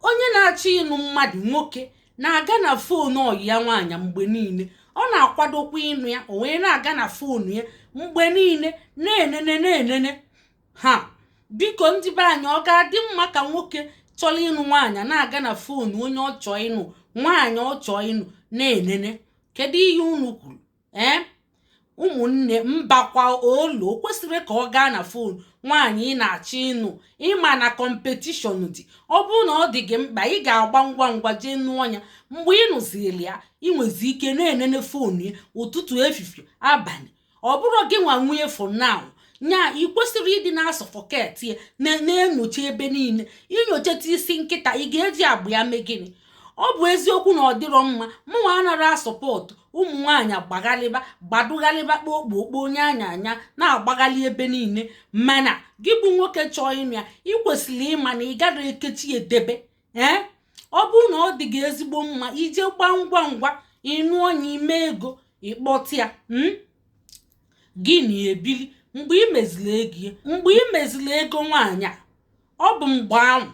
onye na-achọ ịnụ mmadụ nwoke na-aga na fon ọyị ya nwaanyị mgbe niile ọ na-akwadokwa ịnụ ya o wee na-aga na fon ya mgbe niile na-enene na-enene ha biko ndị be anyị ọ ga-adị mma ka nwoke chọrọ ịnụ nwaanyị na-aga na fon onye ọ chọọ ịnụ nwaanyị ọ chọọ ịnụ na-enene kedu ihe unu kwuru ee ụmụnne mbakwa olu o kwesịrị ka ọ gaa na fon nwaanyị ị na-achọ ịnụ ị ma na kọmpetishọn dị ọ bụrụ na ọ dị gị mkpa ị ga-agba ngwa ngwa jee nụọ ya mgbe ị nụziri ya ị nwezi ike na-enene fon ya ụtụtụ efifie abalị ọ bụrụ gị nwa nwe fon na-anụ ya ị kwesịrị ịdị na-asọfọket ya na-enyocha ebe niile inyochata isi nkịta ị ga-eji agba ya mee gịnị ọ bụ eziokwu na ọ dịrọ mma mụnwa anara asọpọtụ ụmụ nwaanyị agbaghalịba gbadụghalịba kpokpo kpo onye anya anya na-agbaghalị ebe niile mana gị bụ nwoke chọọ ịnụ ya ị kwesịrị ịma na ị garọ ekechi edebe ee ọ bụrụ na ọ dị gị ezigbo mma i je gbaa ngwa ngwa ị nụọ ya i mee ego ị kpọta ya hmm? gị na ya ebili mgbe ị meziri ego mgbe ị meziri ego nwaanyị a ọ bụ mgbe ahụ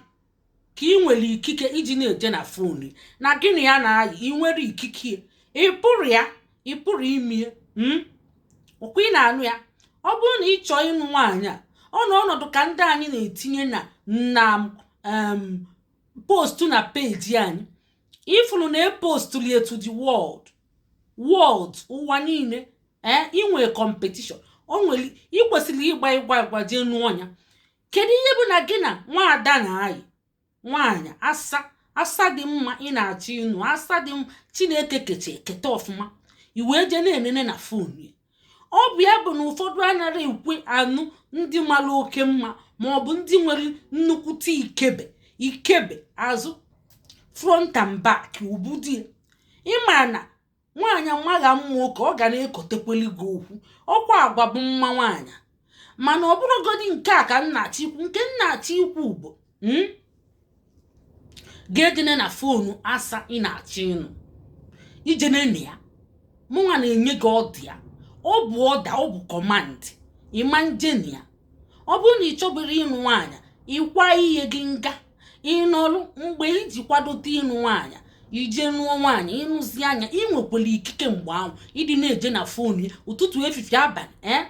ka ị nwere ikike iji na-eje na fon na gị na ya na-ayị ị nwere ikike ị pụrụ ya ị pụrụ ime ya hmm? ọkwa ị na-anụ ya ọ bụrụ na ị chọọ ịnụ nwaanyị a ọ nọ ọnọdụ ka ndị anyị na-etinye na na postu na peji anyị ị fụlụ na e postuli ya to the world world ụwa niile ee eh, i nwere competition o nwere ị kwesịrị ịgba ngwa ngwa jee nụọ ya kedu ihe bụ na gị na nwaada na-ayị nwaanyị asa asa dị mma ị na-achọ ịnụ asa dị mma chineke kecha keta ọfụma i wee jee na-enene na fon ya ọ bụ ya bụ na ụfọdụ anara ekwe anụ ndị mara oke mma ma ọ bụ ndị nwere nnukwute ikebe ikebe azụ front and back ọ bụ ụdị ị ma na nwaanyị magha mma oke ọ ga na-ekotekweli gị okwu ọkwa agwa bụ mma nwaanyị mana ọ bụrọgodi nke a ka m na-achọ ikwu nke m na-achọ ikwu bụ hmm? gị ejene na fonu asa ị na-achọ ịnụ ije nene ya mụnwa na-enye gị ọda a ọ bụ ọda ọ bụ kọmand ị ma njene ya ọ bụrụ na ị chọburu ịnụ nwaanyị ịkwa ihe gị nga ị nọrọ mgbe iji kwadote ịnụ nwaanyị i je nụọ nwaanyị ị nụzia nya ị nwekwara ikike mgbe ahụ ịdị na-eje na fon ya ụtụtụ efifie abalị ee eh?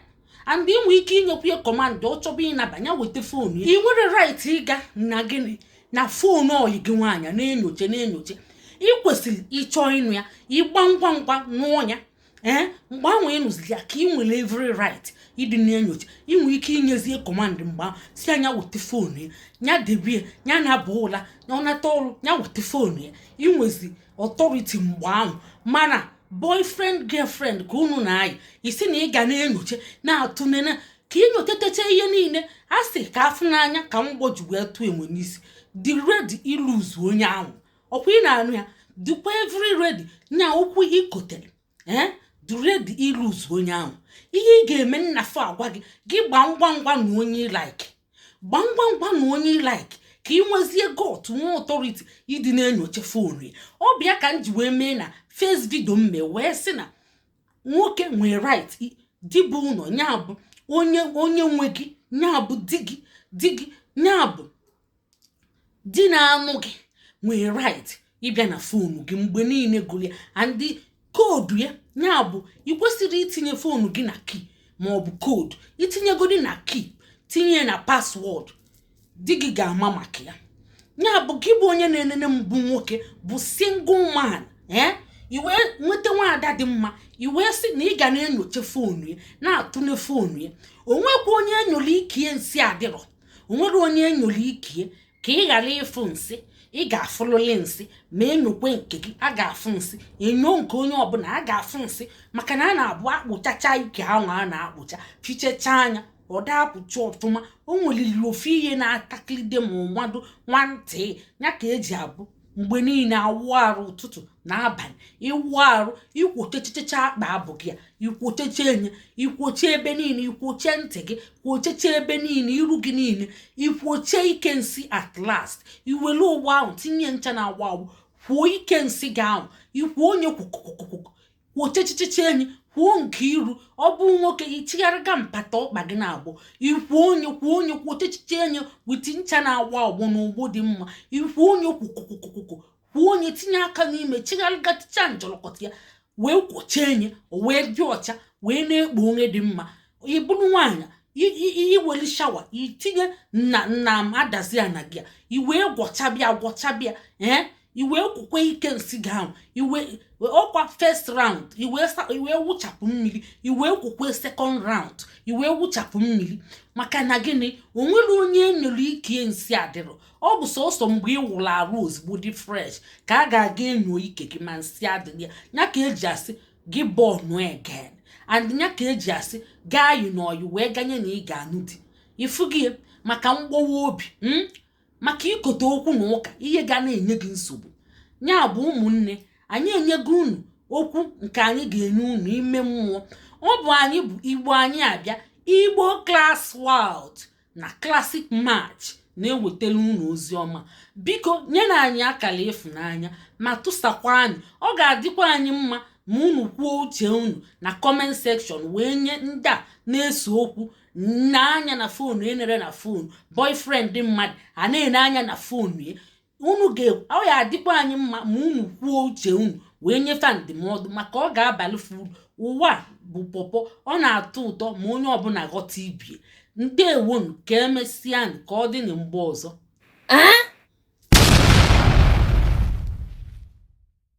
and ị nwee ike inyekwu ya kọmandụ ọ chọba ịnabanye weta fon ya ị nwere rait ịga na gịnị na fon ọyị gị nwaanyị na-enyocha na-enyocha ị kwesịrị ịchọ ịnụ ya ịgba ngwa ngwa nụọ ya ee eh, mgbe ahụ ị nụziri ya ka ị nwere every right ịdị na-enyocha i nwee ike inyezie command mgbe ahụ sị ya nya weta phone ya ya debie ya na-aba ụla ya ọ nata ọrụ ya weta phone ya i nwezie authority mgbe ahụ mana boyfriend girlfriend ka unu na-ayị ị sị na ị ga na-enyocha na-atụnene ka i nyochatecha ihe niile a sị ka a fụ n'anya ka mgbọ ji wee tụọ enwe n'isi dị ready i lose onye ahụ ọkwa ị na-anụ ya dịkwa every ready nya okwu i kotere ee dị ready i lose onye ahụ ihe ị ga-eme nnafọ agwa gị gị gbaa ngwa ngwa nụọ onye ị like gbaa ngwa ngwa nụọ onye ị like ka ị nwezie gut nwee authority ịdị na-enyocha phone ya ọ bụ ya ka m ji wee mee na first video m mee wee sị na nwoke nwee right di bụ ụlọ ya bụ onye nwe gị ya bụ di gị di gị ya bụ di na-anụ gị nwere right ịbịa na phone gị mgbe niile gụrụ ya and code ya ya bụ ị kwesịrọ itinye phone gị na key ma ọ bụ code i tinyegodi na key tinye na password di gị ga-ama maka ya ya bụ gị bụ onye na-enene m bụ nwoke bụ single man ee eh? i wee nweta nwaada dị mma i wee sị na ị ga na-enyocha phone ya na-atụle phone ya o nwekwa onye e nyoro ike nsị adịrọ o nwerọ onye e nyoro ike ya ka ị ghara ịfụ nsị ị ga-afụlịlị nsị ma e nyokwee nke gị a ga-afụ nsị e nyoo nke onye ọbụla a ga-afụ nsị maka na a na-abụ a kpụchachaa ike ahụ a na-akpụcha fichechaa nya ọ da-apụcha ọfụma o nweliri ofu ihe na-atakịrịde ma mmadụ nwantị ya ka e ji abụ mgbe niile awụ arụ ụtụtụ na abalị ị wụọ arụ i kwochechichechaa akpa abụ gị ya i kwochechee nye i kwochee ebe niile i kwochee ntị gị kwocheche ebe niile iru gị niile i kwochee ike nsị at last i wele ogbo ahụ tinye ncha na-agbọ agbọ kwoo ike nsị gị ahụ i kwoo nye kwokwokwokwo kwochechichichie nye kwoo nke iru ọ bụ nwoke i chigharịga mpata ọkpa gị naabọ i kwoo nye kwoo nye kwochechichie nye with ncha na-agbọ agbọ na ogbo dị mma i kwoo nye kwokwokwokwokwo kwoo nye tinye aka n'ime chigharịga ticha njọlọkọta ya wee kwochie nye o wee dị ọcha wee na-ekpo onye dị mma ị bụrụ nwaanyị i welu shower i tinye nna m adazi ya na gị a i wee gwọchabịa gwọchabịa ee i wee kwokwee ike nsị gị ahụ ọkwa first round i wee wụchapụ mmiri i wee kwokwee second round i wee wụchapụ mmiri maka na gịnị o nwerọ onye e nyoro ike nsị adịrọ ọ bụ sọsọ mgbe ị wụrụ arụ ozugbo dị fresh ka a ga-aga enyo ike gị ma nsị adịrọ ya ya ka e ji asị gị born again and nya ka eji asị gị ayịna ọyị wee ganye na ị ga-anụ di ifu gị maka mgbawa obi hmm? maka ikote okwu na ụka ihe ga na-enye gị nsogbu nya bụ ụmụnne anyị enyego unu okwu nke anyị ga-enye unu ime mmụọ ọ bụ anyị bụ igbo anyị abịa igbo class world na classic match na-ewetara unu ozi ọma biko nyenụ anyị akara ịfụnanya ma tụsakwa anyị ọ ga-adịkwa anyị mma ma unu kwuo uche unu na comment section wee nye ndị a na-ese okwu na anya na fonu e nere na fonu boyfriend di mmadụ a na-ene anya na fonu ya unu ọ ya-adịkwa anyị mma ma unu kwuo uche unu wee nye fa ndụmọdụ maka ọ ga-abalụ fa uru ụwa bụ pọpọ ọ na-atọ ụtọ ma onye ọbụla ghọta ibie ndewonu ka emesịa ka ọ dị na mgbe ọzọ